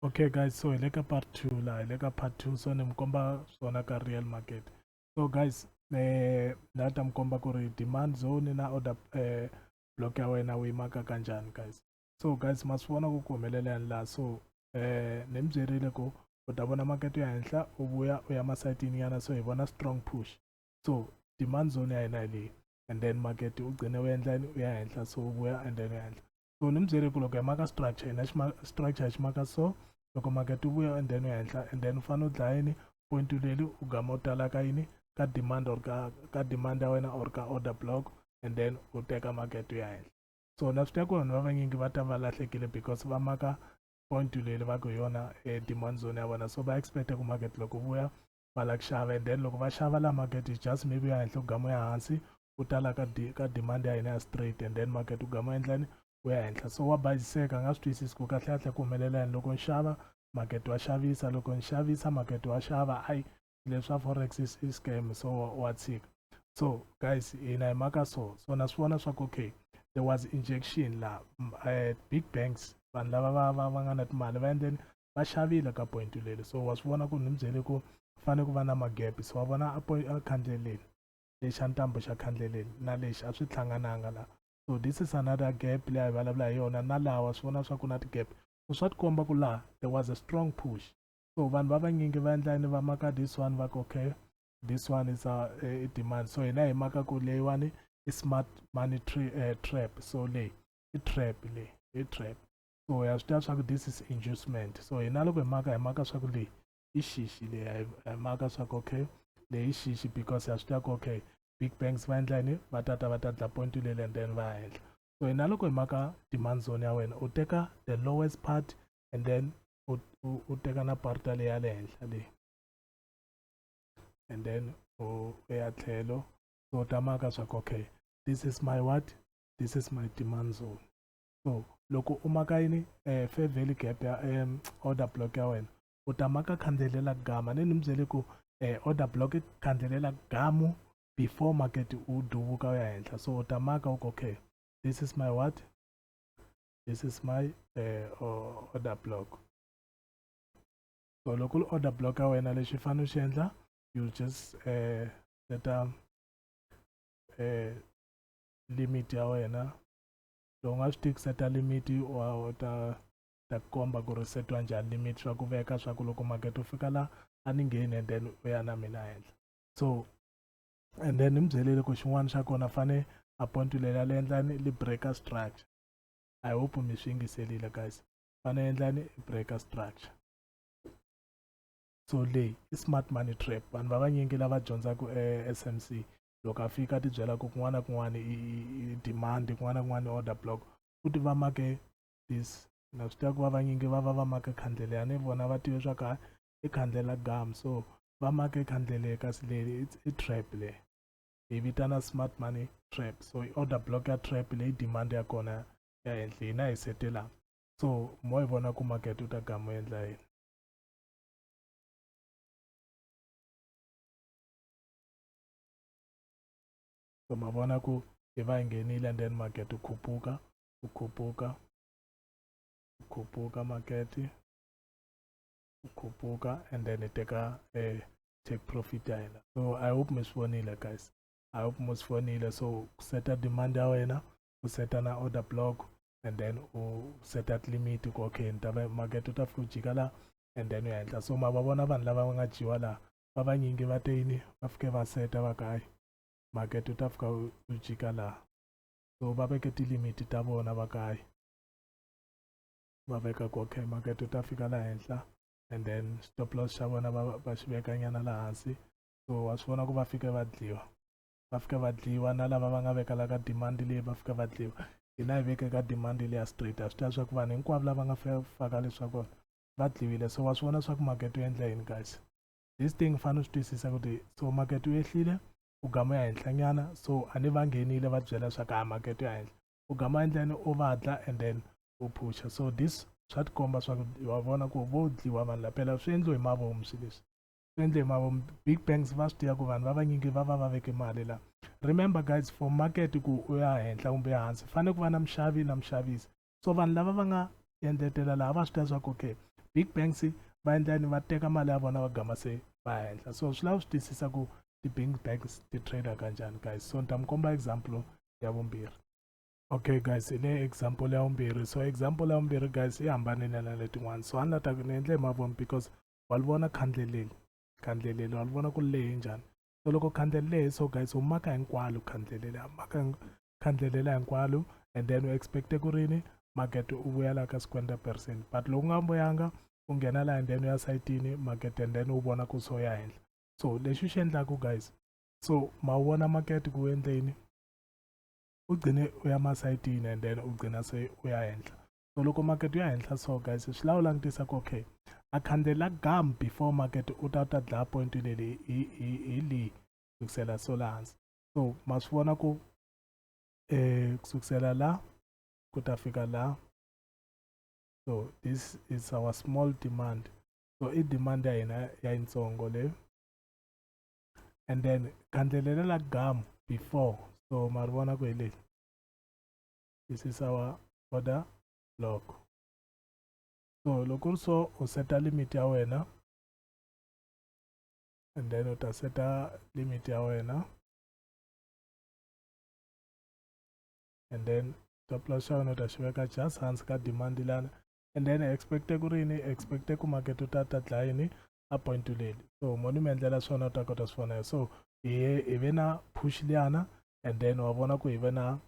okay guys so hi le ka part two laha hi le ka part two so ni mi komba swona ka real market so guys eh, na ta mi komba ku ri demand zone na order eh, block ya wena u yimaka ka njhani guys so guys ma swi vona ku ku humelela yani laha so eh, ni mi byerile ku u ta vona market ya henhla u vuya u ya masayitini yana so hi vona strong push so demand zone ya hina hi leyi and then market u gcine u endla u ya henhla so u vuya and then u ya henhla so ni mi byele ku loko hi maka structure hina structure hi xi maka so loko makete wu vuya endheni yo henhla and then u fanele u dlaya yini point leli u gama u tala ka yini ka demand or ka ka demand ya wena or ka order block and then u teka makete ya henhla so na swi tiva ku vanhu va vanyingi va ta va lahlekile because va maka point leli va ku hi yona e demand zone ya vona so va expect ku market loko vuya va lava ku xava and then loko va xava la market is just maybe ya henhla ku gama ya hansi ku tala ka di ka demand ya hina ya straight and then market wu gama endlani wu ya henhla so wa bayiziseka a nga swi twisisi ku kahlekahle ku humelela yini loko ni xava market wa xavisa loko ni xavisa market wa xava ayi leswa forex is, is scam so wa tshika so guys hina hi maka so so na swi vona swa ku okay there was injection la uh, big banks vanhu lava va va va nga na timali va endleni va xavile ka point leli so wa swi vona ku ni mi byele ku fane ku va na magap so wa vona a a khandle leli lexi a ntambu xa khandle leli na lexi a swi hlangananga la so this is another gap leyi a hi vulavula hi yona na laha wa swi vona swa ku na ti-gap so swa tikomba ku laha there was a strong push so vanhu va vanyingi va endla yini va maka this one va ku okay this one is a, a demand so hina hi maka ku leyiwani i smart money tra, uh, trap so leyi i trap leyi i trap so ya swi tiva swa ku this is inducement so hina loko hi maka hi maka swa ku leyi i xixi leyi hi maka swa ku okay leyi i xixi because ya swi tiva ku okay big banks va endla yini va tata va ta dla point leli and then va henhla so hina loko hi maka demand zone ya wena u teka the lowest part and then u teka na parta leyi ya le henhla leyi and then u ya tlhelo so u ta maka swa ku okay this is my what this is my demand zone so loko u maka yini eh, fair value gap ya eh, order block ya wena u ta maka khandzelela gama ni ni mi byele ku eh, order block khandzelela gamu before market u duvuka u ya henhla so u ta maka u okay this is my what this is my eh, order block so loko li order block ya wena lexi fanele xi endla you just eh, seta eh, limit ya wena so u nga swi tiki seta limit u ta ta komba ku ri setiwa njhani limit swa ku veka swa ku loko makete u fika la a ni ngheni and then u ya na mina henhla so and then ni mi byelele ku xin'wana xa kona fane appoint leri a li endlani li breaker structure i hope mi swi yingiselile guys fane endlani breaker structure so leyi i smart money trap vanhu va vanyingi lava dyondzaka e-smc loko a fika a tibyela ku kun'wana na kun'wana i demand kun'wana na kun'wana i order block futhi va make this na swi tiva ku va vanyingi va va va make khandlele a ni vona va tive swa ka i khandlela gam so va make khandlele kasi leyi it's i trap le hi vitana smart money trap so i order block ya trap leyi demand ya kona ya henhla hina hi setela so mo hi vona ku market u ta gama u endla yini so ma vona ku yi va yi nghenile and then market wu khuphuka wu khuphuka wu khuphuka market wu khuphuka and then hi teka eh, take profit ya hina so i hope mi swi vonile guys i hope mi swi vonile so ku seta demand ya wena u seta na order block and then u seta limit ku okay ni ta market u ta fika u jika laha and then u ya henhla so ma va vona vanhu lava va nga dyiwa laha va vanyingi va te yini va fike va seta va ka hayi makete u ta fika u jika laha so va veke tilimiti ta vona va ka hayi va veka ku okay makete u ta fika laha henhla and then stop loss xa vona va va xi vekanyana laha hansi so wa swi vona ku va fike va dliwa va fike va dliwa na lava va nga vekela ka demand leyi va fike va dliwa hina hi veke ka demand leya straight a swi ta swa ku vanhu hinkwavo lava nga faka leswaku va dliwile so wa swi vona swa ku makete wu endla yini guys this thing fanele swi twisisa kuti so makete wu ehlile u gama ya henhlanyana so a ni va nghenile va byela swa ku a makete ya henhla u gama endleni u vadla and then u phusha so this swa tikomba swa ku wa vona ku vo dliwa vanhu lapela swi endliwe hi mavomu swi leswi swi endle hi mavomu big banks va swi tiva ku vanhu va vanyingi va va va veke mali la remember guys for market ku u ya henhla kumbe hansi fanele ku va na mixavi na mixavisi so vanhu lava va nga endletela laha va swi tiva swa ku okay big banks va endla yini va teka mali ya vona va gama se va henhla so swi lava swi twisisa ku ti-bank banks ti-trader kanjani guys so ni ta mi komba example ya vumbirhi okay guys hi ne example ya vumbirhi so example ya vumbirhi guys yi hambanile na letin'wana so a ni la ta ni endle hi mavoni because wa li vona khandle leli khandle leli wa li vona ku lehe njhani so loko khandlele leyi so guys u maka hinkwalo khandlele leyi maka khandlele leyi hinkwalo and then u expecte ku rini market u vuya la ka swikwenda percent but loko u nga mbuyanga u nghena laha and then u ya sayitini market and then u vona ku so ya henhla so lexi u xi endlaku guys so ma wu vona market ku endleni u gcine u ya masayitini and then u gcina se u ya henhla so loko market ya henhla so guys swi lava u langutisa ku okay a khandzela gam before market u ta u ta dlaya point leli hi hi hi leyi kusukisela so la hansi so ma swi vona ku eh kusukisela la ku ta fika la so this is our small demand so i demand ya hina ya yitsongo leyo and then khandlelela la gam before so ma ri vona ku hi leli this is our order block so loko ri so u seta limit ya wena and then u ta seta limit ya wena and then stop loss xa wena u ta xi veka just hansi ka demand lana and then expecte ku rini expecte ku market u ta ta dlaya yini a point leli so mo ni mi endlela swona u ta kota swi vona so hi ve na push liyana and then wa vona ku hi ve na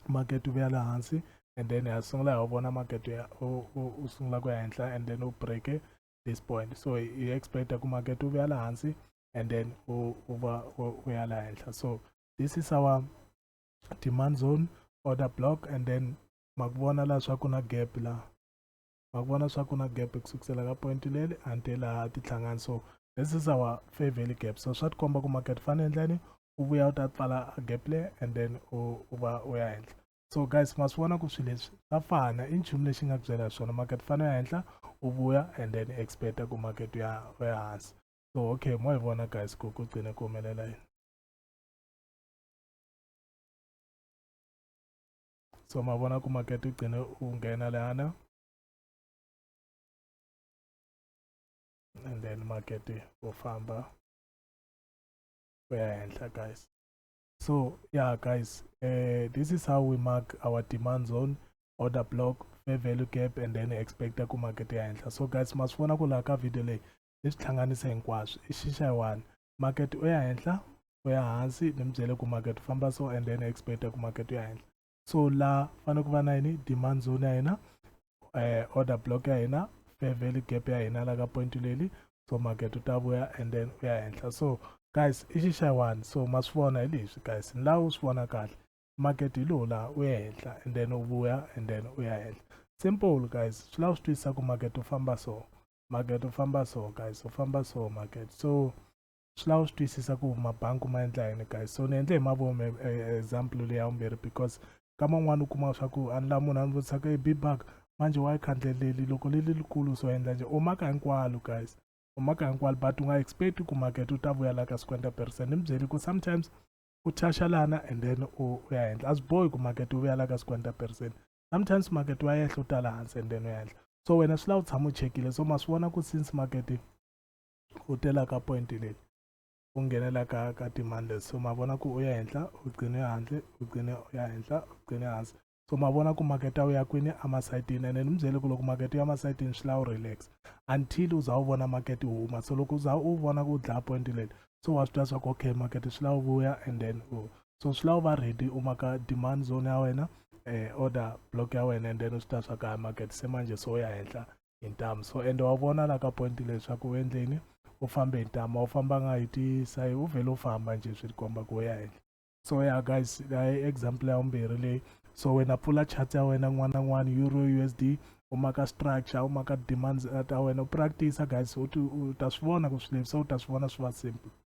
market wu ya le hansi and then ha sungula hi vona market ya u sungula ku ya henhla and then u breake this point so hi expect ku market wu ya le hansi and then u u va u ya le henhla so this is our demand zone order block and then ma ku vona laha swa ku na gap laha wa vona swa ku na gap ku sukusela ka point leli until laha ti hlangani so this is our fair value gap so swa tikomba ku market fane endlani u vuya u ta pfala gap le and then u va u ya henhla so guys ma swi vona ku swilo leswi swa fana i nchumu lexi nga ku byela hi swona market fane ya henhla u vuya and then expecta ku market ya u ya hansi so okay mo hi vona guys ku ku gcine ku humelela yini so mabona ku makete ugcine ungena lana and then makete ufamba uya henhla guys so yeah guys uh, this is how we mark our demand zone order block fair value gap and then expecta ku makete ya henhla so guys masivona ku laha ka video leyi ni swi hlanganisa hinkwaswo i xixa yi one market u ya henhla u ya hansi ni mi byele ku market u famba so and then expect ku market u ya henhla so la fanele ku va na yini demand zone ya hina eh, order block ya hina fair value gap ya hina la ka point leli so market u ta vuya and then u ya henhla so guys i xi xa one so ma swi vona hi leswi guys ni laha u swi vona kahle market hi lowu laha u ya henhla and then u vuya and then u ya henhla simple guys swi lava swi twisisa ku market u famba so market u famba so guys u famba so market so swi lava swi twisisa ku mabangi ma endla yini guys so ni endle hi mavomi eh, eh, example leyi ya vumbirhi because kama un'wana u kuma swa ku a ni la munhu a ni vutisaka hi bibaka manje wa yi khandleleli loko li li likulu so endla nje u maka hinkwalo guys u maka hinkwalo but u nga expect ku market u ta vuya la ka 50 percent ni mi byeli ku sometimes u thashalana and then u ya endla a swi bohi ku market u vuya la ka 50 percent sometimes market wa yehla u tala hansi and then u ya so wena swi lava u tshama u chekile so ma swi vona ku since market u tela ka point leyi u nghenela ka ka timandle so ma vona ku u ya henhla u gcine handle u gcine u ya henhla u gcine hansi so ma vona ku market a wu ya kwini emasayitini and ni mi byele ku loko market u ya emasayitini swi lava u relax until u za u vona market u huma so loko u za u vona ku u dlaya point leli so wa swi twa swa ku okay market swi lava u vuya and then u so swi lava u va ready u maka demand zone ya wena eh, order block ya wena and then u swi ta swa ka market se manje so ya henhla hi ntamu so ende wa vona la ka point leswaku u endleni u fambe hi ntama u fambanga hi tisayi u vhele u famba nje swi tikomba ku ya henhla so ya guys i example ya vumbirhi leyi so wena pfula chat ya wena n'wana n'wana euro u s d u maka structure u maka demands eh, ta wena u practice guys u ta swi vona ku swi levisa u ta swi vona swi va simple